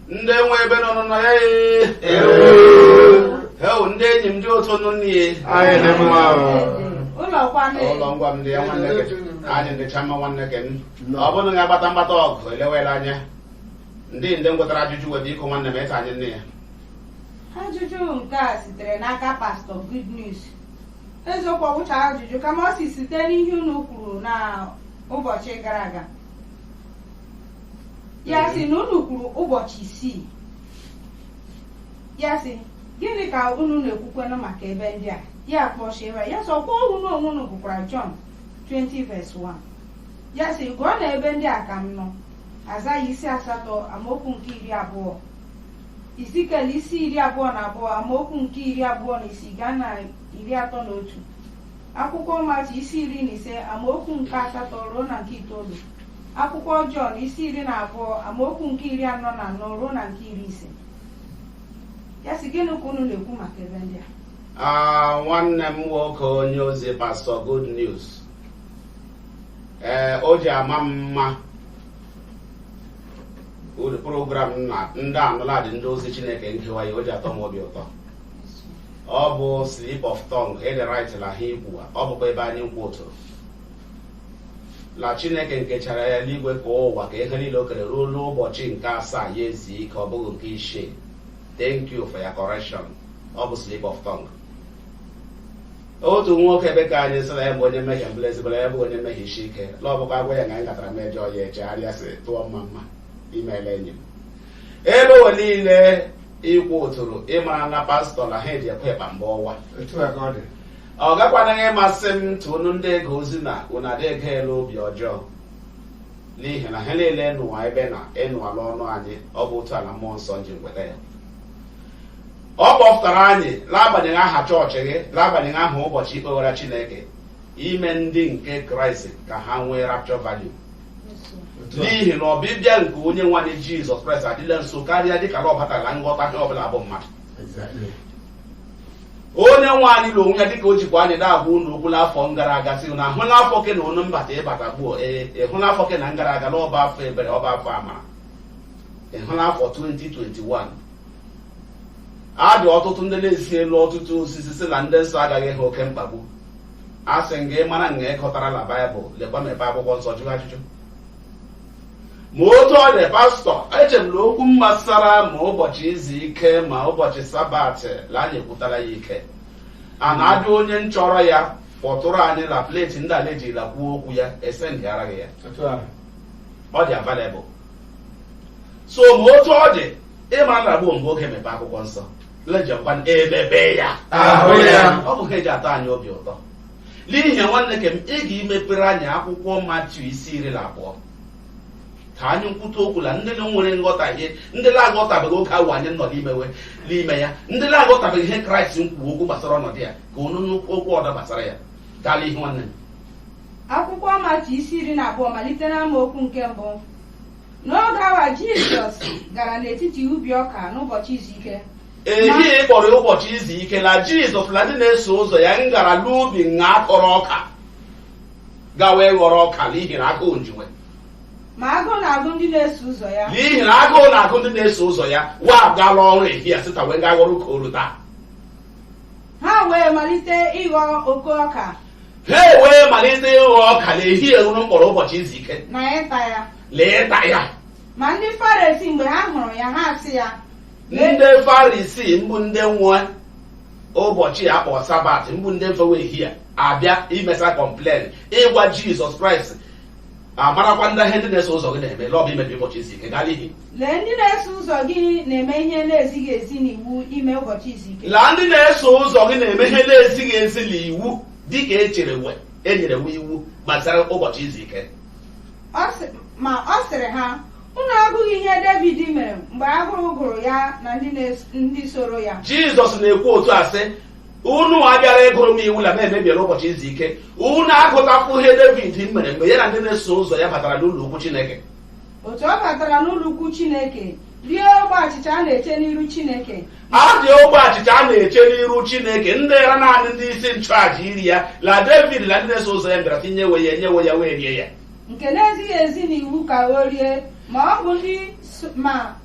ndị nwe ebe nọ nọ ya heo ndị enyi m ndị otu nụ nne anyị dị mma ụlọ kwanụ ụlọ ngwa m ndị ya nwanne gị anyị dịcha mma nwanne gị m ọ bụrụ na agbata mgbata ọgụ elewela anya ndị ndị ngwetara ajụjụ wee biko nwanne m ka anyị nne ya ajụjụ nke a sitere n'aka pastọ good news eziokwu ọ bụcha ajụjụ kama ọ sị site n'ihe unu kwuru na ụbọchị gara aga ya Ee. sị na unu kwuru ụbọchị isii ya sị gịnị ka unu na-ekwukwanụ maka ebe ndị a ya kpọchiere ya sịkwa unu onwe unu gụkwara Jọn 20 verse 1 ya sị gụọ na ebe ndị a ka m nọ Aịzaya isi asatọ amaokwu nke iri abụọ Izikiel isi iri abụọ na abụọ amaokwu nke iri abụọ na isii gaa na iri atọ na otu Akwụkwọ Matiu isi iri na ise amaokwu nke asatọ ruo na nke itoolu. Akwụkwọ Jọn isi iri na abụọ amaokwu nke iri anọ na anọ ruo na nke iri ise. Ya sị gịnị ka unu na-ekwu maka ebe ndị a? Ah, nwanne m nwoke onye ozi pastọ good news ee o ji ama m mma ụdị program na ndị anụladị ndị ozi chineke ngewa ya o ji atọ m obi ụtọ ọ bụ slip of tongue ị dị right la ha ị kwuwa ọ bụkwa ebe anyị nkwuturu na chineke nkechara eluigwe ka ụwa ka ihe niile o kere ruo n'ụbọchị nke asaa ya ezuo ike ọ bụghị nke isii thank you for your correction ọ bụ slip of tongue otu nwoke ebe ka anyị sị na ya bụ onye mmehie mbụla ezigbara ya bụ onye mmehie isi ike na ọ bụkwa agwa ya na anyị gatara mejọ ya echegharịa sị tụọ mma mma imeela enyi m ebe ụwa niile i kwuturu ị ma na pastọ na ha eji ekwe ịkpa mgbe ọwa otu a ka ọ dị ọ gakwanaghị ịmasị m tụ unu ndị ege ozi na unu adị ege elu obi ọjọọ n'ihi na ha niile ị nụwa ebe na ị nụwa n'ọnụ anyị ọ bụ otu a la mmụọ nsọ ji weta ya ọ kpọpụtara anyị n'agbanyeghị aha chọọchị gị n'agbanyeghị aha ụbọchị i kpewara chineke ime ndị nke kraịst ka ha nwee rapture value n'ihi na ọbịbịa nke onye nwe anyị jizọs kraịst adịla nso karịa dịka na ọ batara nghọta ihe ọbụla bụ mmadụ Exactly. onye nwe anyị na onwe ya dịka o jikwa anyị na-agwa unu okwu n'afọ gara aga sị na ịhụ n'afọ ke na unu mbata ịbata gbuo ee ịhụ n'afọ ke na ngara aga na ọ bụ afọ ebere ọ bụ afọ amara ịhụ n'afọ 2021 a dị ọtụtụ ndị na-ezi elu ọtụtụ ozizi sị na ndị nsọ agaghị ahụ oke mkpagbu a sị nga ị mara nga ịkọtara la baịbụl lekwa mepe akwụkwọ nsọ jụọ ajụjụ ma otu ọ dị pastọ eche m na okwu mgbasara ma ụbọchị izu ike ma ụbọchị sabatị la anyị ekwutara ya ike a na-ajụ onye nchọrọ ya kpọtụrụ anyị na pleti ndị ala ejirila kwuo okwu ya esendịara gị ya ọ dị available so ma otu ọ dị ịma nragbuo mgbe oge mepe akwụkwọ nsọ lejekwa emebe ya. ọ bụ ha eji atọ anyị obi ụtọ n'ihi ya nwanne ke m ị ga-emepere anyị akwụkwọ matiu isi iri na abụọ ka anyị nkwute okwu na ndị nwere nghọtahie ndị na-aghọtabeghị oge awa anyị nọ n'imewe n'ime ya ndị na-aghọtabeghị ihe kraịst nkwuo okwu gbasara ọnọdụ ya ka onu nụ okwu ọdọ gbasara ya gaa la ihu nwanne m akwụkwọ matiu isi iri na abụọ malite n'amaokwu nke mbụ N'oge awa Jizọs gara n'etiti ubi ọka n'ụbọchị izu ike. ehi a kpọrọ ụbọchị izu ike na jizọs na ndị na-eso ụzọ ya ngara n'ubi nga a kọrọ ọka gawa ịghọrọ ọka n'ihi na agụụ nji we Ma agụụ na-agụ ndị na-eso ụzọ ya. n'ihi na agụụ na-agụ ndị na-eso ụzọ ya wa agala ọrụ ehi a sita wee gaa ghọrọ ọka oru taa Ha wee malite ịghọ oke ọka ha ewee malite ịghọ ọka n'ehi a unu mkpọrọ ụbọchị izu ike na ịta ya la ịta ya ma ndị farisii mgbe ha hụrụ ya ha sị ya ndị farisii mbụ ndị nwe ụbọchị a kpọrọ sabat mbụ ndị mfewe ehi a abịa imesa complain ịgwa jizọs kraịst amarakwa ndị ihe ndị na-eso ụzọ gị na-eme la ọ bụ imebi ụbọchị izu ike gaa n'ihu Lee ndị na-eso ụzọ gị na-eme ihe na-ezighị ezi n'iwu ime ụbọchị izu ike. La ndị na-eso ụzọ gị na-eme ihe na-ezighị ezi n'iwu dị ka e chere we e nyere we iwu gbasara ụbọchị izu ike. Ma ọ sịrị ha, unu agụghị ihe Devid mere mgbe agụụ gụrụ ya na ndị soro ya. Jizọs na-ekwu otu a sị, unu abịara ịgụrụ m iwu na m emebiela ụbọchị izu ike unu agụtakwụ ihe Devid mere mgbe ya na ndị na-eso ụzọ ya batara n'ụlọ ukwu Chineke otu ọ batara n'ụlọ ukwu chineke rie ogbe achịcha a na-eche n'iru chineke a dị ogbe achịcha a na-eche n'iru chineke ndịrị naanị ndị isi nchụaja iri ya la david na ndị na-eso ụzọ ya bịara sị nye we ya e nye we ya wee rie ya nke na-ezighị ezi n'iwu ka o rie ma ọ bụ ndị so- ma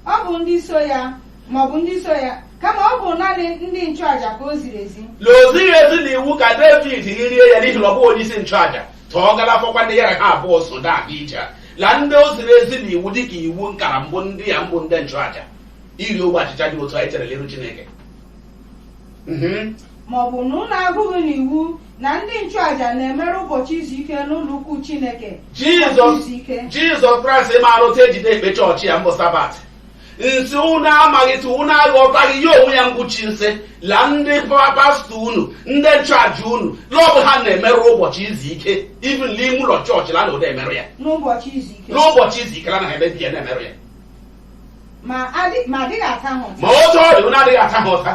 ọ bụ ndị so ya ma ọ bụ ndị so ya kama ọ bụ naanị ndị nchụaja ka o ziri ezi na o zighị ezi na iwu ka david rie ya n'ihi na ọ bụghị onye isi nchụaja tọọ galafọkwa ndị ya la ha abụọ so da aga ije a la ndị o ziri ezi na iwu dịka iwu nkara mbụ ndị ya mbụ ndị nchụaja iri ogbe achịcha dị otu anyị chere n'iru chineke Mhm. ma ọ bụ na unu agụghị n'iwu na ndị nchụaja na-emerụ ụbọchị izu ike n'ụlọ ukwu chineke ụbọchị izu ike jizọs kraịst maara otu e ji de-ekpe chọọchị ya mbụ sabat nsị unu amaghịtụ unu aghọtaghị ya onwe ya ngwụchi nsị la ndị pastọ unu ndị nchụaja unu la ọ bụ ha na-emerụ ụbọchị izu ike even n'ime ụlọ chọọchị la na ụda emerụ ya n'ụbọchị izu ike la na emebi ya na-emerụ ya ma adịghị ata ha ụta ma otu ọ dị unu adịghị ata ha ụta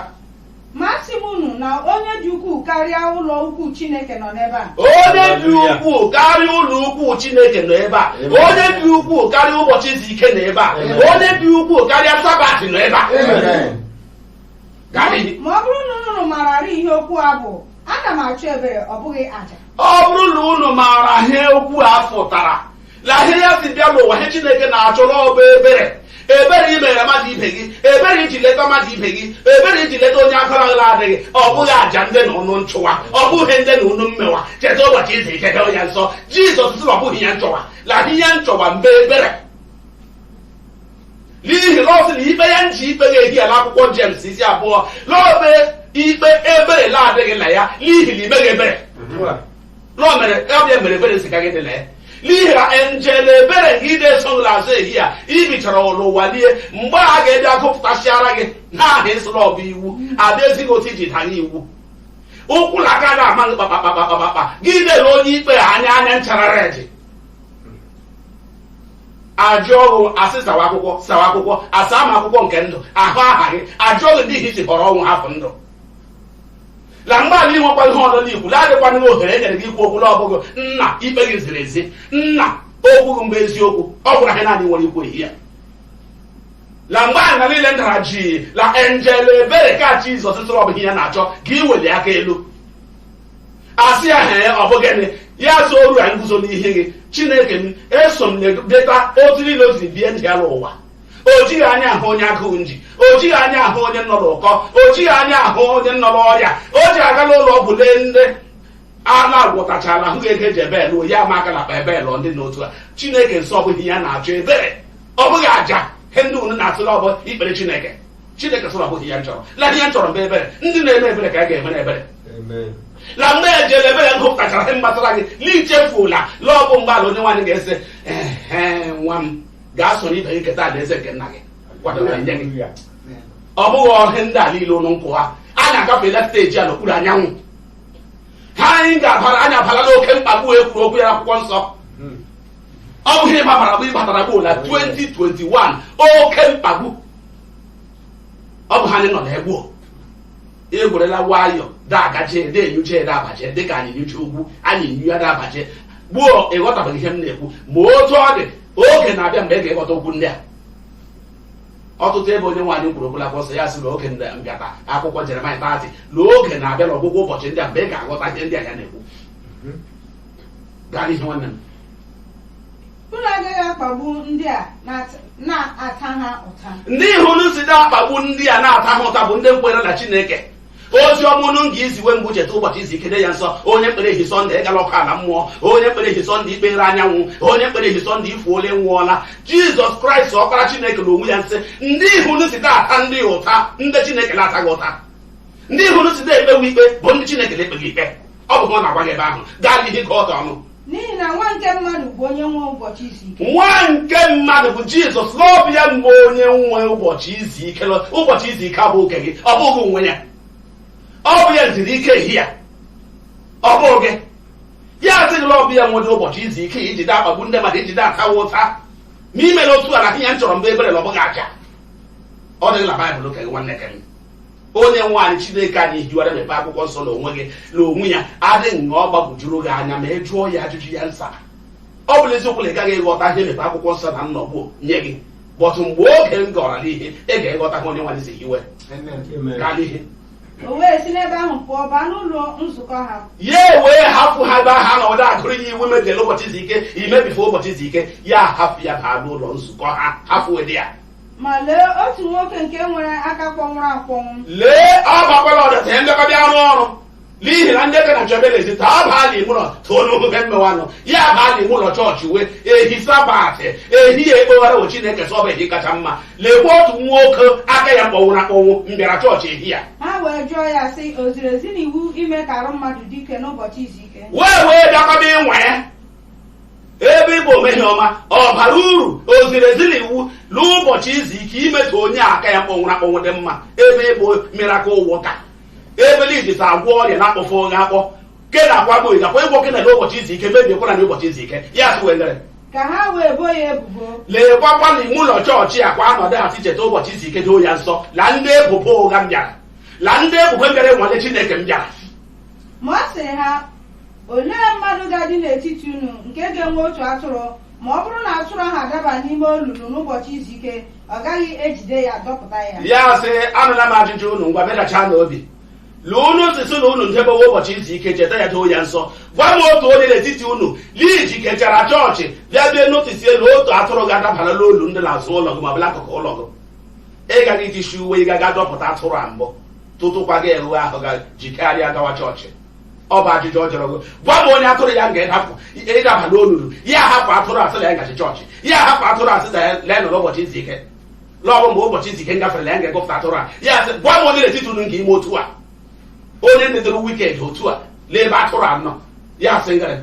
Ma asị m unu na onye dị ukwuu karịa ụlọ ukwu Chineke nọ n'ebe a. onye dị ukwuu karịa ụlọ ukwu chineke nọ ebe a onye dị ukwuu karịa ụbọchị izu ike nọ ebe a onye dị ukwuu karịa sabat nọ ebe a Ma ọ bụrụ na unu mararị ihe okwu a bụ, ana m achọ ebere ọ bụghị aja. ọ bụrụ na unu maara ihe okwu a fụtara la ihe ya si bịa n'ụwa ihe chineke na-achọ la ọ bụ ebere ebere i meere mmadụ ibe gị ebere i ji leta mmadụ ibe gị ebere i ji leta onye akara ala adịghị ọ bụghị aja ndị na ụnụ nchụwa ọ bụghị ndị na ụnụ mmewa cheta ụbọchị izi ike doo ya nsọ jizọs sị na ọ bụghị ya nchọwa la ihe ya nchọwa mbụ ebere n'ihi na ọ sị na ikpe ya nji ikpe gị ehi ya n'akwụkwọ jems isi abụọ na ọ bụ ikpe ebere la adịghị na ya n'ihi na i meghị ebere na o mere ya bịa mere ebere si gaghị dị la ya n'ihi na enjel ebere gị na-eso gị la azụ ehi ya i bichara la ụwa lie mgbe a ga-abịa gụpụtasịara gị n'aha ịsụrụ ọ bụ iwu a bịa zi gị otu i ji danye iwu ụkwụ na aka na-ama gị kpakpakpakpakpakpa gị lere onye ikpe anya anya nchara redi ajụ ọrụ a sị sawa akwụkwọ sawa akwụkwọ asa ma akwụkwọ nke ndụ ahụ aha gị ajụ ọrụ ndị ihi si họrọ ọnwụ hapụ ndụ la mgbe ala inwekwa ihe ọzọ n'ikwu la adịkwana gị ohere e nyere gị ikwu okwu la ọ bụghị nna ikpe gị ziri ezi nna okwu gị mbụ eziokwu ọ bụrụ ihe naanị i nwere ikwu ehi ya la mgbe na niile ndara jii la enjel ebere ka jizọs sịrị ọ bụ ihe ya na-achọ ga-eweli aka elu asị ya hee ọ bụ gịnị ya sị oru ya nguzo n'ihu gị chineke m eso m na-edeta otu niile o si bie ndụ ya n'ụwa o jighị anya ahụ onye agụụ nji o jighị anya ahụ onye nọ n'ụkọ o jighị anya ahụ onye nọ n'ọrịa o ji aga n'ụlọ ọgwụ lee ndị a na-agwọtachala ahụ ga-ege eji ebel onye ama aka n'akpa ebel ndị n'otu a chineke nsị ọ bụ ihe ya na-achọ ebere ọ bụghị aja ihe ndị unu na-atụ la ọ bụ ikpere chineke chineke sịrị ọ bụghị ya nchọrọ la ihe ya nchọrọ mbụ ebere ndị na-eme ebere ka a ga-emere ebere la mgbe enjel ebere gụpụtachara ihe mgbasara gị n'ichefula la ọ bụ mgbe ala onyenwe anyị ga-asị ehe nwa m gaa soro ibe gị keta alaeze nke nna gị kwadoro nye gị ọ bụghị ihe ndị a niile ụlọ nkụ ha anyị agafela steji a n'okpuru anyanwụ ha anyị ga-abara anyị abala n'oke mkpagbu e kwuru okwu ya akwụkwọ nsọ ọ bụ ihe anyị babara bụ ịbatara bụ na 2021 oke mkpagbu ọ bụ ha anyị nọ na ya gbuo egwerela nwayọọ dagaje na-enyuche ya dabaje dịka anyị nyuche ugwu anyị nyu ya dabaje gbuo ị ghọtabeghị ihe m na-ekwu ma otu ọ dị oge na-abịa mgbe ị ga-eghọta okwu ndị a ọtụtụ ebe onyenwe anyị kwuru okwu la akwụkwọ nsọ ya sị na oge mbịata akwụkwọ jeremaya tati na oge na-abịa n'ọgwụgwụ ụbọchị ndị a mgbe ị ga-aghọta ihe ndị a ya na-ekwu gaa n'ihu nwanne m unu agaghị akpagbu ndị a na-ata- na-ata ha ụta ndị ahụ unu si na-akpagbu ndị a na-ata ha ụta bụ ndị nkwere na chineke ozi ọma unu ga iziwe mbụ cheta ụbọchị izu ike doo ya nsọ onye mkpere ehi sọnde ịgala ọkụ ala mmụọ onye mkpere ehi sọnde ikpere anyanwụ onye mkpere ehi sọnde ifuola nwụọla jizọs kraịst ọkpara chineke na onwe ya nsị ndị ahụ unu si da ata ndị a ụta ndị chineke na-ataghị ụta ndị ahụ unu si na-ekpewe ikpe bụ ndị chineke na-ekpeghị ikpe ọ bụ ọ na-agwa gị ebe ahụ gaa n'ihu ka ọ ọnụ n'ihi na nwa nke mmadụ bụ onye nwe ụbọchị izu ike nwa nke mmadụ bụ jizọs na ọ bụ ya mbụ onye nwe ụbọchị izu ike lọ- ụbọchị izu ike abụ oke gị ọ bụ gị nwe ya ọ bụ ya zuru ike ehi ya ọ bụ gị ya asị gị la ọ bụ ya nwere ụbọchị izu ike iji da akpagbu ndị mmadụ iji da atawa ụta ma imela otu a na ihe m chọrọ mbụ ebere na ọ bụghị aja ọ dịghị na baịbụl oke gị nwanne ke m onyenwe anyị chineke anyị hiwara mepe akwụkwọ nsọ na onwe gị na onwe ya adịghị ṅa ọ gbagwojuru gị anya ma ị jụọ ya ajụjụ ya nsa ọ bụla eziokwu na ị gaghị ịghọta ihe mepe akwụkwọ nsọ na nnọgbu nye gị but mgbe oge ngara n'ihu ị ga-eghọta ha onyenwe anyị si hiwe gaa n'ihu o wee si n'ebe ahụ pụọ baa n'ụlọ nzukọ ha ya ewee hapụ ha ebe ahụ nọ da agụrụ ya iwu mebiri ụbọchị izu ike imebife ụbọchị izu ike ya hapụ ya baa n'ụlọ nzukọ ha hapụ ụdị ya ma lee otu nwoke nke nwere aka kpọnwụrụ akpọnwụ lee ọ bakwala ọdata ya ndekọdị arụ ọrụ n'ihi na ndị na jebelezi taa abaala ime ụlọ tụọ n'oge mmewa nọ ya abaa la ime ụlọ chọọchị we ehi sabat ehi ya ekpewara chineke so ọ bụ ehi kacha mma lekwa otu nwoke aka ya kpọnwụrụ akpọnwụ mbịara chọọchị ehi ya ha wee jụọ ya sị o ziri ezi n'iwu ime ka arụ mmadụ dị ike n'ụbọchị izu ike wee wee bịakọba ịnwa ya ebe ị bụ ome ihe ọma ọ bara uru o ziri ezi n'iwu n'ụbọchị izu ike ime ka onye aka ya kpọnwụrụ akpọnwụ dị mma ebe ị bụ miracle worker ebe la iji si agwọ ọrịa na-akpọfe onye akpọ ke na akwa gboyi nakwa ịgwọ kena n'ụbọchị izu ike mebiekwana n'ụbọchị izu ike ya sị wendere ka ha wee bo ya ebubo leekwakwa n'ime ụlọ chọọchị a kwa anọdụ ha sị cheta ụbọchị izu ike doo ya nsọ la ndị ebubo ụgha mbịara la ndị ebubo bịara ịnwale chineke mbịara ma ọ sịrị ha olee mmadụ ga-adị n'etiti unu nke ga-enwe otu atụrụ ma ọ bụrụ na atụrụ ahụ adaba n'ime olulu n'ụbọchị izu ike ọ gaghị ejide ya dọpụta ya ya sị anụla m ajụjụ unu ngwa bịachacha n'obi lee unu nsị sị na unu ndebewe ụbọchị izu ike cheta ya doo ya nsọ gwa m otu onye n'etiti unu la i jikechara chọọchị bịa bie notice na otu atụrụ gị adabala n'olu ndị n'azụ ụlọ gị ma ọ bụ la akụkụ ụlọ gị ị gaghị itishi uwe ị gaga dọpụta atụrụ a mbụ tutukwa gị awụọ ahụ ga jikarịa gawa chọọchị ọ bụ ajụjụ ọ jụrụ gị gwa m onye atụrụ ya nga ịdapụ ịdaba n'olulu ya hapụ atụrụ a sị na ya gachi chọọchị ya hapụ atụrụ a sị na ya lee nọrọ ụbọchị izu ike na ọ bụ mgbe ụbọchị izu ike ngafere na ya ga-egupụta atụrụ a ya sị gwa m onye n'etiti unu nke ime otu a onye nedoro wicked otu a lee ebe atụrụ a nọ ya sị ngara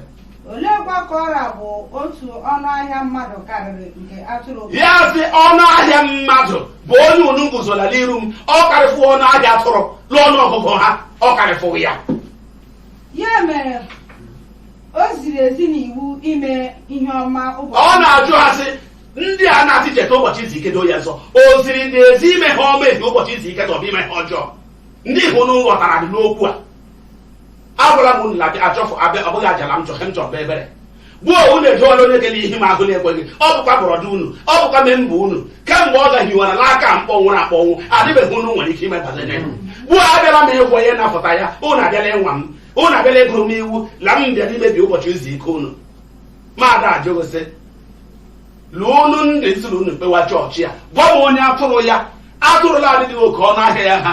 oleekwa ka ọ ra bụ otu ọnụ ahịa mmadụ karịrị nke atụrụ ya sị ọnụ ahịa mmadụ bụ onye unu guzola n'iru m ọ karịfụ ọnụ ahịa atụrụ n'ọnụ ọgụgụ ha ọ karịfụ ya ya mere o ziri ezi n'iwu ime ihe ọma ụbọchị ọ na-ajụ ha sị ndị a na-asị cheta ụbọchị izu ike doo ya nsọ o ziri na ezi ime ihe ọma ehi ụbọchị izu ike ta ọ bụ ime ihe ọjọọ ndị ihe unu ghọtara dị n'okwu a agwara m unu na achọfụ abịa ọ bụghị aja la m chọ ihe m chọ bụ ebere gbuo unu edola onye gele ihe m ahụ na-ekweghị ọ bụkwa brother unu ọ bụkwa member unu kemgbe ọ gahiwara n'aka mkpọnwụrụ akpọnwụ adịbeghị unu nwere ike ime banye gbuo abịala m ịgwọ ya napụta ya unu abịala ịnwa m unu abịala ịgụrụ m iwu na m bịara imebi ụbọchị izu ike unu maada ajụghịsị lee unu ndị nsiri unu kpewa chọọchị ya gwa m onye atụrụ ya atụrụ la-adịghị oke ọnụ ahịa ya ha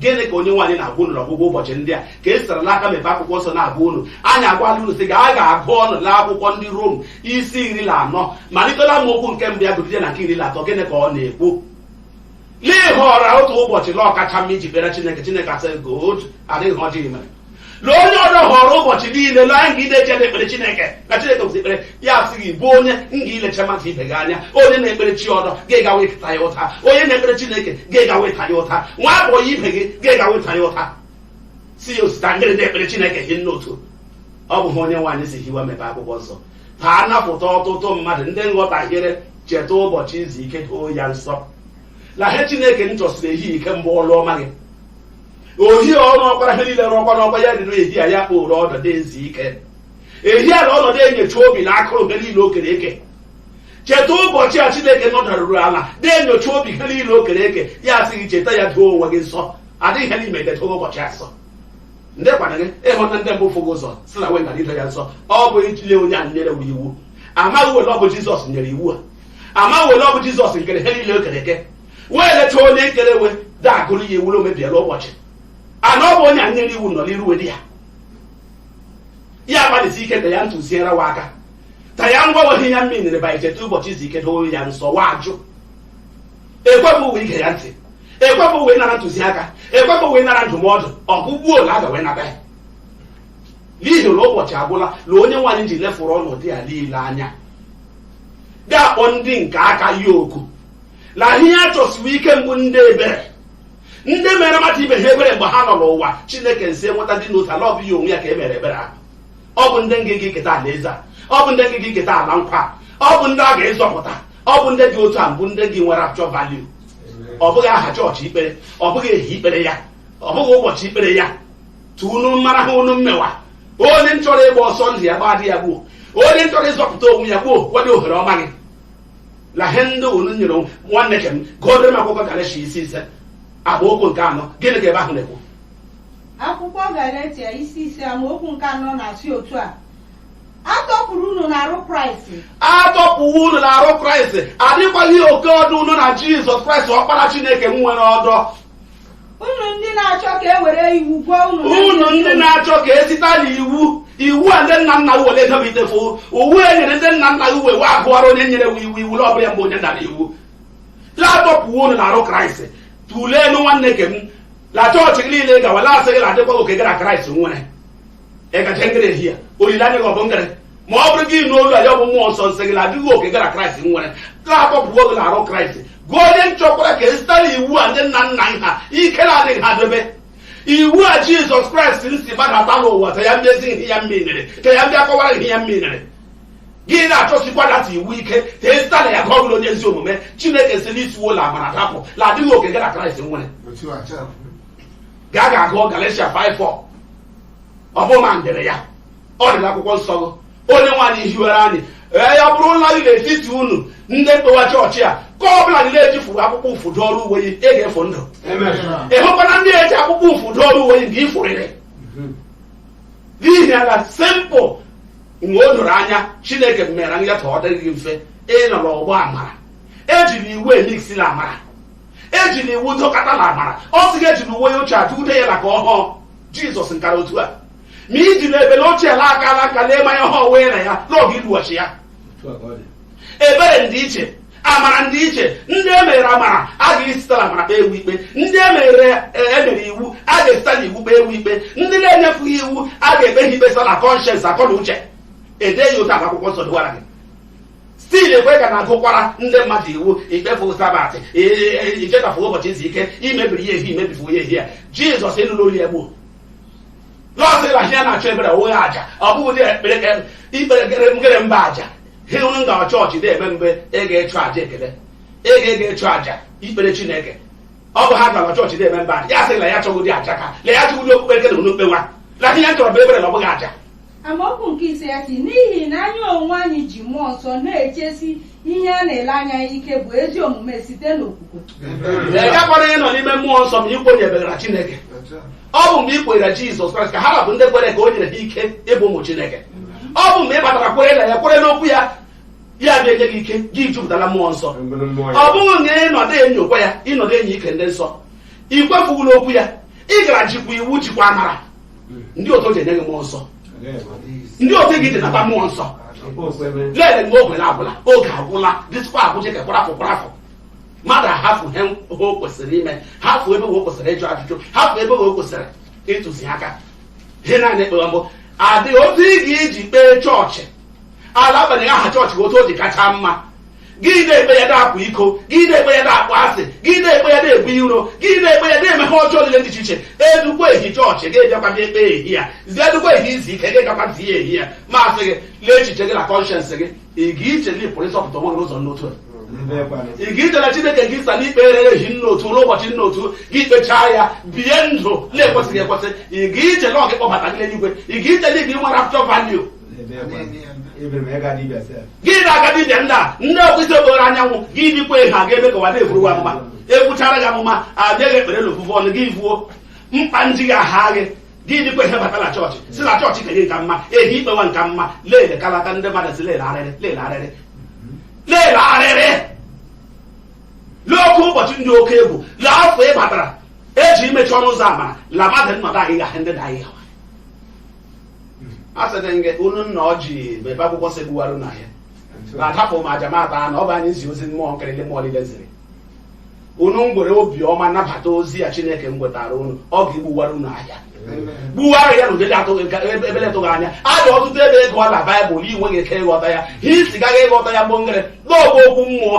gịnị ka onye nwe anyị na-agwa unu n'ọgwụgwụ ụbọchị ndị a ka e sara n'aka mepe akwụkwọ nsọ na-agwa unu anyị agwala unu sị gaa gaa gụọnụ na akwụkwọ ndị rom isi iri na anọ malite la amaokwu nke mbụ ya gụgide na nke iri na atọ gịnị ka ọ na-ekwu n'ịhọrọ otu ụbọchị na ọ kacha mma iji kpere chineke chineke asị good adịghị ihe ọjọọ i mere na onye ọzọ họrọ ụbọchị niile na nga ilecha na ekpere chineke na chineke bụzi ekpere ya asị gị bụ onye nga ilecha mmadụ ibe gị anya onye na-ekpere chi ọdọ ga-ega wee taa ya ụta onye na-ekpere chineke ga-ega wee taa ya ụta nwa abụọ ya ibe gị ga-ega wee taa ya ụta sị ya o sita ngịrị na-ekpere chineke hi nne otu ọ bụ ihe onye nwe anyị ji hiwa mepe akwụkwọ nsọ ta a napụta ọtụtụ mmadụ ndị nghọtahiere cheta ụbọchị izu ike doo ya nsọ la ihe chineke nchọsiri ehihie ike mgbe ọlụ ọma gị ohi ọrụ ọ kpara ihe niile rụọkwa n'ọkwa ya dị n'ehi a ya kpọrọ ọnọdụ izu ike ehi a na ọ nọ da-enyocha obi na akụrụ ihe niile o kere eke cheta ụbọchị a chineke nọdaruru ala na-enyocha obi ihe niile o kere eke ya asị gị cheta ya doo onwe gị nsọ adịghị ihe n'ime dedo ụbọchị a nsọ ndị kwana gị ịhụta ndị mbụ fụgị ụzọ sị na we na ido ya nsọ ọ bụ ijide onye a nyere we iwu amaghị we la ọ bụ jizọs nyere iwu a amaghị we la ọ bụ jizọs nkere ihe niile o kere eke wee leta onye nkere we da-agụrụ ya iwu na o mebiela ụbọchị a na ọ bụ onye a nyere iwu nọ n'iru we di ya ya agbalịsi ike ta ya ntụziere wa aka ta ya ngwa we ihe ya mmiri nyere ba icheta ụbọchị izu ike doo ya nsọ wa ajụ ekwebụ we ige ya ntị ekwebụ we nara ntụziaka ekwebụ we nara ndụmọdụ ọ bụ gbuo la a ga wee nata ya n'ihi na ụbọchị agwụla na onye nwe anyị ji lefuru ọnọdụ ya niile anya ga-akpọ ndị nke aka ya oku na ihe a chọsiwo ike mbụ ndị ebere ndị mere mmadụ ibe ha ebere mgbe ha nọ n'ụwa chineke nsị enweta dị n'otu a la ọ bụ ya onwe ya ka e mere ebere ahụ ọ bụ ndị nga ga eketa ala eze a ọ bụ ndị nga ga eketa ala nkwa ọ bụ ndị a ga-ezọpụta ọ bụ ndị dị otu a mbụ ndị gị nwere actual value ọ bụghị aha chọọchị i kpere ọ bụghị ehi i kpere ya ọ bụghị ụbọchị i kpere ya tu unu mara he unu mmewa onye nchọrọ ịgba ọsọ ndụ ya gbaa dị ya gbuo onye nchọrọ ịzọpụta onwe ya gbuo wadị ohere ọma gị la he ndị unu nyere onwe nwanne ke m gụọdịrị m akwụkwọ galeshia isi ise amaokwu nke anọ gịnị ka ebe ahụ na-ekwu akwụkwọ galeshia isi ise amaokwu nke anọ na-asị otu a a tọpụrụ unu n'arụ kraịst a tọpụwo unu na arụ kraịst adịkwaghị oke ọdọ unu na jizọs kraịst ọkpara chineke nwere ọdọ unu ndị na-achọ ka e were iwu gụa unu unu ndị na-achọ ka e sita na iwu iwu a ndị nna nna were debitefu uwe e nyere ndị nna nna uwe wa agụọrọ onye nyere wo iwu iwu ọbụla mgbe onye dara iwu la a tọpụwo unu na arụ kraịst tụleenụ nwanne ke m la chọọchị gị niile gawa la asị gị la adịkwaghị oke gị la kraịst nwere ị gacha ngere ehi ya olileanya gị ọ bụ ngere ma ọ bụrụ gị ịnụ olu a ya ọ bụ mmụọ nsọ nsị gị na adịghị oke gị la kraịst nwere la a tọpụwo gị n'arụ kraịst gị onye nchọkwara ka e sita la iwu a ndị nna nna ha ike na-adịghị ha debe iwu a jizọs kraịst nsi gbadata n'ụwa ka ya mmezi ihe ya mmiri ka ya bịa kọwara ihe ya mmiri gị na-achọsikwa data iwu ike ka e sita la ya ka ọ bụrụ onye ezi omume chineke sị la i siwo la amara dapụ la adịghị oke gị la kraịst nwere otu a gaa ga-agụ galatia 5:4 ọ bụ ma ndere ya ọ dị n'akwụkwọ nsọ gị onye nwaanyị hiwere anyị ee ya bụrụ na gị n'etiti unu ndị mkpewa chọọchị a ka ọ bụla gị na-ejifuru akwụkwọ ụfụ dụọrọ uwe yi ị ga-efu ndụ ị hụkwana ndị eji akwụkwọ ụfụ dụọrọ uwe yi nke ifụrịrị n'ihi ala simple mgbe o doro anya chineke mere ya ka ọ dị mfe ị nọ n'ọgbọ amara ejiri iwu emiksi na amara ejiri iwu dọkọta na amara ọ sị gị ejiri uwe ya ochie atụ ude ya na ka ọhụụ jizọs nkara otu a imagine ebele ochie la akala nka lee manya ọhụụ onwe na ya n'oge iluwachi ya ebere ndị iche amara ndị iche ndị e mere amara a ga-esite la amara kpee wo ikpe ndị e mere e nyere iwu a ga-esite la iwu kpee wo ikpe ndị na-enyefughị iwu a ga-ekpe ha ikpe site la conscience akọ na uche ede ya otu akwụkwọ nsọ dịwara gị still ekwe ka na-agụkwara ndị mmadụ iwu i kpefu sabat i chetafu ụbọchị izu ike i mebiri ya ehi i mebifu ya ehi ya jizọs ị nụrụ olu ya gbuo la ọ sị na ihe na-achọ ebere ọ bụghị aja ọ bụghị dị ekpere ka ikpere gere ngere mbụ aja he unu nga chọọchị na-eme mgbe ị ga-echụ aja ekele ị ga-ega echụ aja ikpere chineke ọ bụ ha gara chọọchị na-eme mbụ aja ya sị na ya chọgodi aja ka na ya chọgodi okpukpe nke na unu kpewa na ihe ya chọrọ bụ ebere na ọ bụghị aja amaokwu nke ise ya sị n'ihi na anyị onwe anyị ji mmụọ nsọ na-echesi ihe a na-ele anya ya ike bụ ezi omume site n'okwukwe ị gakwara ịnọ n'ime mmụọ nsọ ma i kwenyebegara chineke ọ bụ mgbe ị kwenyere jizọs kraịst ka ha ra bụ ndị kwere ka o nyere ha ike ịbụ ụmụ chineke ọ bụ mgbe ị batara kwere na ya kwere n'okwu ya ya bịa enye gị ike gị jupụta na mmụọ nsọ ọ bụghị na ị nọdụ enyokwa ya ị nọdụ enyi ike ndị nsọ ị kwefughị n'okwu ya ị gara jikwa iwu jikwa amara ndị otu ji enye gị mmụọ nsọ ndị otu ị ga-eji nata mmụọ nsọ lele mgbe oge na-agwụla oge agwụla dịtụkwa agwụ jeke kwarafụ kwarafụ mmadụ ahafụ ihe o kwesịrị ime hafụ ebe o kwesịrị ịjụ ajụjụ hafụ ebe o kwesịrị ịtụzi aka ihe naanị ekpewa mbụ adịghị otu ị ga-eji kpee chọọchị ala agbanyeghị aha chọọchị otu o ji kacha mma gị na-ekpe ya na-akwa iko gị na-ekpe ya na-akpọ asị gị na-ekpe ya na-ebu iro gị na-ekpe ya na-eme ihe ọjọọ niile dị iche iche edukwa ehi chọọchị gị bịakwa gị ekpe ehi ya zie edukwa ehi izu ike gị gakwa zie ehi ya maasị gị lee echiche gị na conscience gị ị ga-iche na ị pụrụ ịzọpụta onwe gị n'ụzọ n'otu a ị ga-iche na chineke gị sa n'ikpe erere ehi nna otu ruo ụbọchị nna otu gị kpechaa ya bie ndụ na-ekwesịghị ekwesị ị ga-iche na ọ ga-ịkpọbata gị n'eluigwe ị ga-iche na ị ga-enwe rapture value gị na-aga dibịa ndị a ndị ọkpụisi obere anyanwụ gị dịkwa ihe a ga-eme ka ụwa na-eburu wa mma ekwuchara gị amụma abịaghị ekpere n'ofufe ọnụ gị vuo mkpa nji gị aha gị gị dịkwa ihe bata na chọọchị si na chọọchị kenye nka mma ehi ikpewa nka mma lele kalata ndị mmadụ si lele arịrị lele arịrị lele arịrị lee oke ụbọchị dị oke egwu lee afọ ị batara eji imechi ọnụ ụzọ amara la mmadụ nnọdụ ahịhịa ndị na ahịhịa asịrị m gị unu nna ọ ji ebe akwụkwọ si gbuwara unu ahịa na-adapụ ma a ja-amata na ọ bụ anyị zi ozi mmụọ nkịrịlị mmụọ niile ziri unu ngwere obiọma nabata ozi ya chineke m gwetara unu ọ ga-egbuwara unu ahịa gbuwara ya n'ụdị atụghị ka ebe- ebele tụghị anya a dị ọtụtụ ebe ị gụọ na baịbụl i nweghị ike ịghọta ya ha isi gaghị ịghọta ya mgbe ngere na ọ bụ okwu mmụọ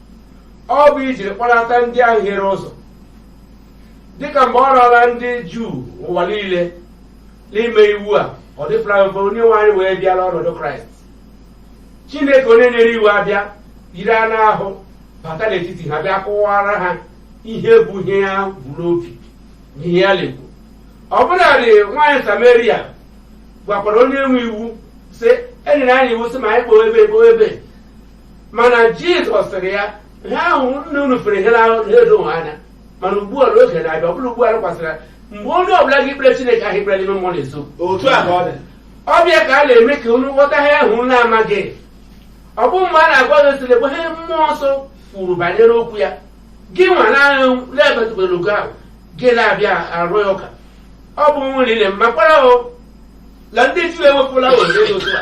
ọ bụ ijiri kpọlata ndị ahụ hiere ụzọ dịka mgbe ọ rara ndị juu ụwa niile n'ime iwu a ọ dịpụla mfe onye nwe anyị wee bịa la ọnọdụ kraịst chineke onye nyere iwu abịa yiri anụ ahụ bata n'etiti ha bịa kọwara ha ihe bụ ihe ya bu n'obi na ihe ya na-ekwu ọ bụladị nwaanyị samaria gwakwara onye nwe iwu sị e nyere anyị iwu sị ma anyị kpọọ ebe kpọọ ebe mana jizọs sịrị ya ihe ahụ nna unu fere ihe n'ahụ na-edo ha anya mana ugbu a oge na-abịa ọ bụrụ ugbu a lekwasịrị ya mgbe onye ọbụla ga-ekpere chineke ahụ ekpere n'ime mmụọ na eziokwu otu a ka ọ dị ọ bịa ka a na-eme ka unu ghọta ihe ahụ unu amaghị ọ bụ mgbe a na-agwa gị sịrị bụ ihe mmụọ nsọ kwuru banyere okwu ya gị nwa na-ahụ na-emetụbere ogo ahụ gị na-abịa arụ ya ụka ọ bụ nwere ile mmakwara o na ndị juu ewepụla ohere otu a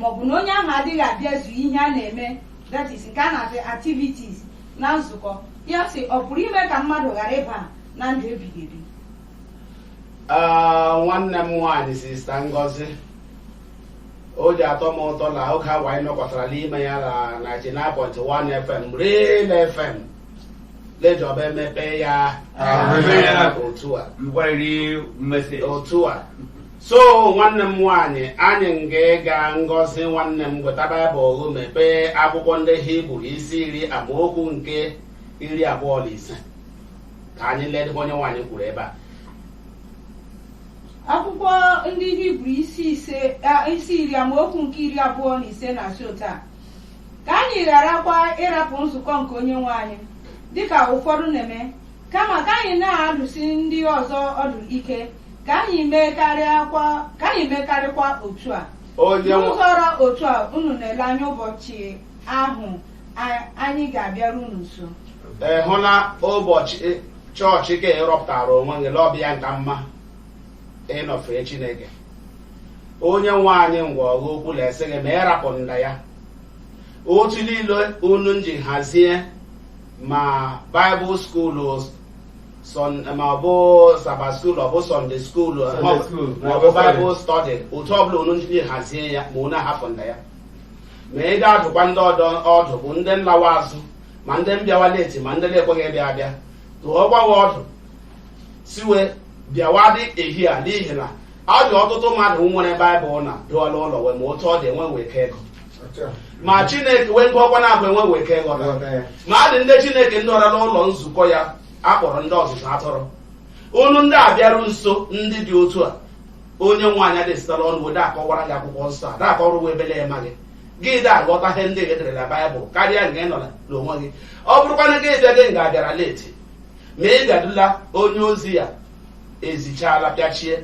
maọbụ na onye ahụ adịghị abịazu ihe a na-eme that is nke a na-akpọ activities na nzukọ ya sị ọ pụrụ ime ka mmadụ ghara ịba na ndụ ebighị ebi Ah, nwanne m nwaanyị sista Ngozi o ji atọ m ụtọ na oge awa anyị nọkọtara n'ime ya na 99.1 FM Real FM la Jehova emepe ya Amen. otu a Ngwarịrị mmesị. otu a so nwanne m nwaanyị anyị nga-aga ngozi nwanne m gweta baịbụl mepee akwụkwọ ndị hibru isi iri amaokwu nke iri abụọ na ise ka anyị ledebe onye nwe anyị kwuru ebe a akwụkwọ ndị hibru isi iri amaokwu nke iri abụọ na ise na-asị otu a ka anyị gharakwa ịrapụ nzukọ nke onye nwe anyị dịka ụfọdụ na-eme kama ka anyị na-adụsi ndị ọzọ ọdụ ike ka anyị mekarịkwa otu a n'ụzọ ra otu a unu na-ele anya ụbọchị ahụ anyị ga-abịaru unu nso ị hụla ụbọchị chọọchị ka ị rọpụtara onwe gị la ọ bụ ya nka mma ịnọ fee chineke onye nwe anyị ngwa gị okwu na-asị gị ma ị rapụ nda ya otu niile unu nji hazie ma baịbụl skuulu ma ọ bụ saba skuul ọ bụ sọnde skuul ma ọ bụ baịbụl stọdị otu ọ bụla unu nji hazie ya ma unu ahapụ nda ya ma ị ga-adụkwa ndị ọdọ ọdụ bụ ndị nlawa azụ ma ndị mbịawa leti ma ndị na-ekweghị ịbịa abịa dụọkwa we ọdụ sị we bịawa dị ehi a n'ihi na ọ dị ọtụtụ mmadụ nwere baịbụl na dụọla ụlọ we ma otu ọ dị enwe we ike ịgụ ma chineke we ngụọkwa na-abụ enwe we ike ịghọta ma a dị ndị chineke ndọwara n'ụlọ nzukọ ya a kpọrọ ndị ọzụzụ atụrụ unu ndị abịaru nso ndị dị otu a onye nwe anyị a da esita la ọnụ we da akọwara gị akwụkwọ nsọ a da akọwara ebe la ị maghị gị da aghọta ihe ndị e dere na baịbụl karịa nke ị nọla n'onwe gị ọ bụrụkwanụ gị bịa gị nga abịara leti ma ị gadula onye ozi ya ezichala pịachie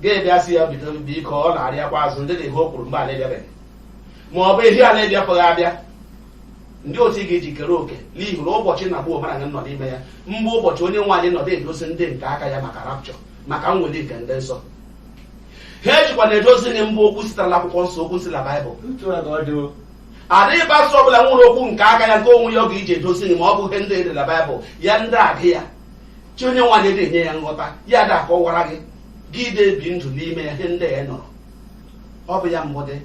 ga-ebịa sị ya bido biko ọ na-arịakwa azụ ndị n'ihe o kwuru mgbe a na-ebịabeghị ma ọ bụ ehi a na-ebịapụghị abịa ndị otu ị ga-eji kere oke n'ihi na ụbọchị na gbuo mara gị nọ n'ime ya mgbe ụbọchị onye nwe anyị nọdụ edozi ndị nke aka ya maka rapchọ maka mweli nke ndị nsọ ha ejikwa na-edozi gị mbụ okwu sitere na akwụkwọ nsọ okwu si na baịbụl adịghị pastọ ọbụla nwere okwu nke aka ya nke onwe ya ọ ga-eji edozi gị ma ọ bụ ihe ndị edere na baịbụl ya ndị agụ ya chi onye nwe anyị dị enye ya nghọta ya da akọwara gị gị ide ebi ndụ n'ime ya ihe ndị a nụrụ ọ bụ ya mbụ dị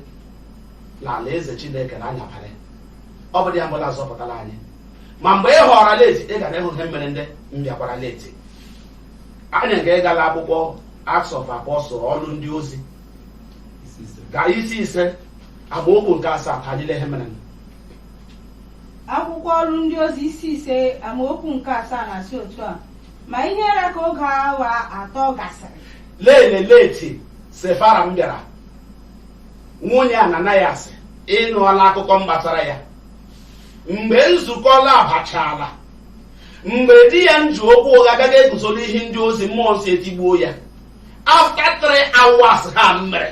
na ala eze chineke na anyabalị ọ bụ ya mbụ na-azọpụtara anyị ma mgbe ị họrọ leti ị gara ịhụ ihe mere ndị mbịakwara leti anyị ga-aga la akwụkwọ Acts of Apostles ọlụ ndị ozi ga isi ise amaokwu nke asaa ka anyị lee ihe mere akwụkwọ ọrụ ndị ozi isi ise amaokwu nke asaa na-asị otu a ma ihe ra ka oge awa atọ gasịrị lele leti sefara mbịara nwunye ananayas ị nụọla akụkọ mgbasara ya mgbe nzukọ labachaala mgbe di ya nji okwu ụgha gaa guzo n'ihu ndị ozi mmụọ nsọ etigbuo ya after three hours ha mere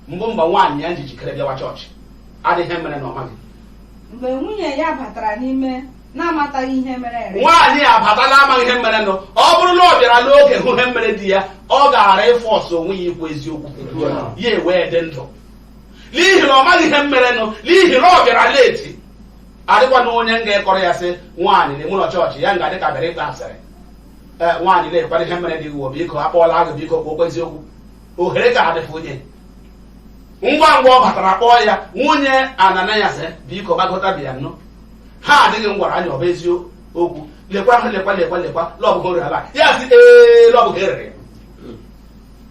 mbụ mgbe nwaanyị ya ji jikere bịawa chọọchị adịghị ihe mere na ọ maghị mgbe nwunye ya batara n'ime na-amataghị ihe mere eme nwaanyị a bata n'amaghị ihe mere nụ ọ bụrụ na ọ bịara n'oge hụ ihe mere di ya ọ gaara ịforce onwe ya ikwu eziokwu ya ewee dị ndụ n'ihi na ọ maghị ihe mere nụ n'ihi na ọ bịara leti adịkwanụ onye nga-ekọrọ ya sị nwaanyị n'ime ụlọ chọọchị ya nga dịka bịara ịkpa asịrị ee nwaanyị lekwara ihe mere di gị o biko ekwula ụgha biko kwuokwa eziokwu ohere ka adịfụ onye ngwa ngwa ọ batara kpọọ ya nwunye ananayas biko gbagota bịa nụ he di gị ngwara anyị ọ bụ eziokwu lekwa hụ lekwa lekwa lekwa la ọ bụ ego rere ala ya sị ee la ọ bụ ego e rere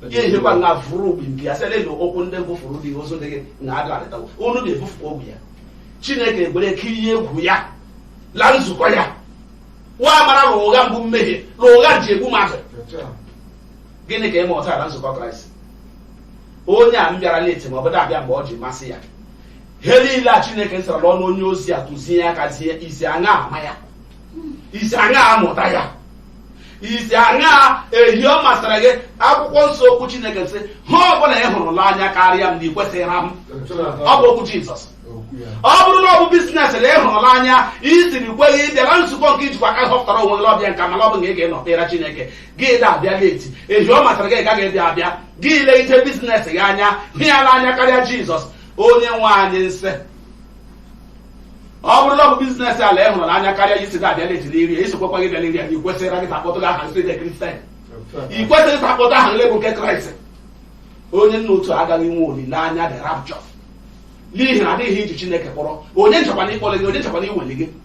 ya ehekwa nga vụrụ ogbi nke ya sị lele ụkwụ ndị bufuru di ozu di gị na adụ adịtawo unu ga-ebufukwa ogwu ya chineke egwere kirie egwu ya la nzukọ ya wa amara na ụgha mbụ mmehie na ụgha ji egbu mmadụ gịnị ka ị mụtara na nzukọ kraịst onye a mbịara leti ma ọ bụ da abịa mgbe ọ ji masị ya ihe niile a chineke sara n'ọnụ onye ozi a tụzie ya ka zie i si aṅaa ama ya i si aṅaa amụta ya i si aṅaa ehi ọ masịrị gị akwụkwọ nsọ okwu chineke sị he ọ bụla ị hụrụ la anya karịa m na ị kwesịghịrị m ọ bụ okwu jizọs ọ bụrụ na ọ bụ biznes na ị hụrụ la anya i siri kweghị ịbịa na nzukọ nke i jikwa aka họpụtara onwe gị ọbịa nka mana ọ bụ na ị ga-enọ kpere chineke gị da-abịa leti ehi ọ masịrị gị ka gị dị abịa gị legide biznes gị anya hụ ya n'anya karịa jizọs onye nwe anyị nsị ọ bụrụ na ọ bụ biznes ala ị hụrụ n'anya karịa isi na-abịa leti n'iri ya isokwakwa gị bịa n'iri ya na ikwesịrị gị takpọtụ gị aha nsị dị kristian i kwesịrị ịtakpọta aha nlebụ nke kraịst onye nna otu agaghị nwe olileanya dị rapchọ n'ihi na adịghị iji chineke kpọrọ onye nchekwana ịkpọrọ gị onye nchekwana iweli gị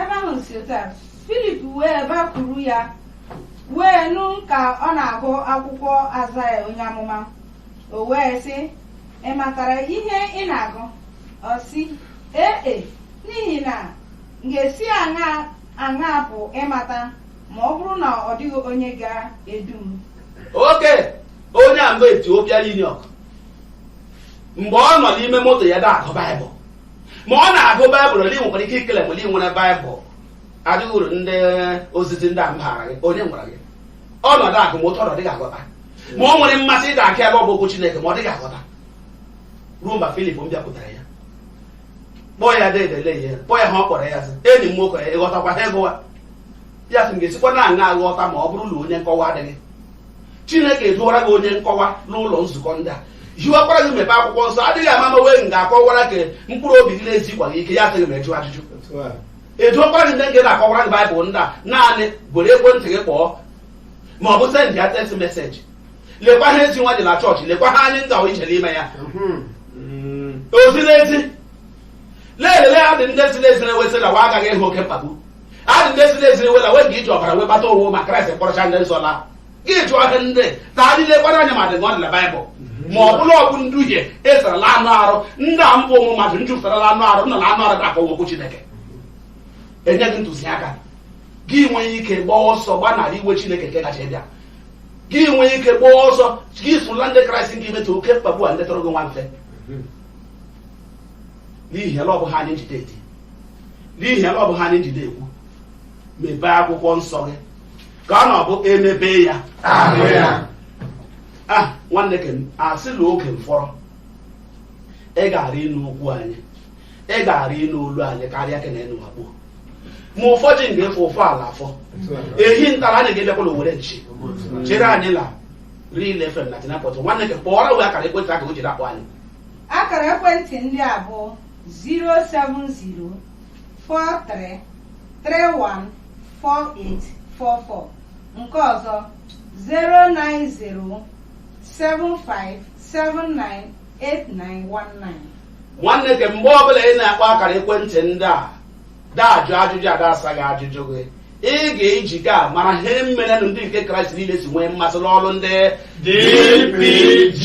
Ebe ahụ si otu a, Filip wee bakwuru ya wee nụ ka ọ na-agụ akwụkwọ Azaya onye amụma o wee sị ị matara ihe ị na-agụ ọ sị ee e n'ihi na m ga-esi aṅaa pụ ịmata ma ọ bụrụ na ọ dịghị onye ga-edu m oke onye a mgbe Ethiopian eunuch mgbe ọ nọ n'ime moto ya da-agụ baịbụl ma ọ na-agụ baịbụl ole nwekwara ike ikele mgbe i nwere baịbụl adịghị uru ndị ozizi ndị a mbaara gị onye nwere gị ọ nọ da-agụ moto ọ dịghị aghọta ma ọ nwere mmasị dịka ebe ọ bụ okwu Chineke ma ọ dịghị aghọta ruo mgbe Filip mbịakwutere ya kpọọ ya dedele ya kpọọ ya ha ọ kpọrọ ya sị enyi m nwoke ị ghọtakwa ha ị gụwa ya sị m ga-esikwanụ aṅaa aghọta ma ọ bụrụ na onye nkọwa adịghị Chineke eduwara gị onye nkọwa n'ụlọ nzukọ ndị a hiwakwara gị mepe akwụkwọ nsọ adịghị ama ma wee nga-akọwara gị mkpụrụ obi gị na-ezikwa gị ike ya sịghị ma ịjụ ajụjụ ejuokwara gị ndị nke na-akọwara gị baịbụl ndị a naanị gwere ekwentị gị kpọọ ma ọ bụ send ya text meseji lekwa ha ezi nwa dị na chọọchị lekwa ha anyị ngawa ije n'ime ya ozi n'ezi na-elele ha dị ndị si n'ezi na-ewesị na wa agaghị ịhụ oke mkpagbu adị ndị si n'ezi na-ewela wee ga iji ọbara wee kpata onwe ma kraịst kpọrọcha ndị nsọ laa gị jụọ ihe ndị na adị lekwara anya ma dị na ọ dị na baịbụl ma ọ bụ la ọ bụ nduhie ezerela anụ arụ ndị a mbụ ụmụ mmadụ njupụtarala anụ arụ nọ na anụ arụ ga-akọwa okwu chineke enye gị ntụziaka gị nwee ike gbaa ọsọ gbanarị iwe chineke nke gaje ịbịa gị nwee ike gbaa ọsọ gị sụla ndị kraịst nke imetụ oke mkpagbu a ndị tọrọ gị nwa mfe n'ihi la ọ bụ ha anyị njide eti n'ihi la ọ bụ ha anyị njide ekwu mepee akwụkwọ nsọ gị ka ọ na-abụ emepe ya ahụ ya ah nwanne ke a sị la oge mfọrọ ị gaara ịnụ okwu anyị ị gaara ịnụ olu anyị karịa ke na ị nụwa gbuo ma ụbọchị nga-efo ụfọ la afọ ehi ntara anyị ga-emekwala owere nchi chere anyị la Real FM 99.1 nwanne ke kpọọrọ wee akara ekwentị aka o jiri akpọ anyị akara ekwentị ndị a bụ 0704331 4844 nke ọzọ 09075798919 nwanne ke mgbe ọbụla ị na-akpọ akara ekwentị ndị a da-ajụ ajụjụ a da-asa gị ajụjụ gị ị ga-eji ka a mara ihe merenụ ndị nke Kraịst niile si nwee mmasị n'ọrụ ndị DPG.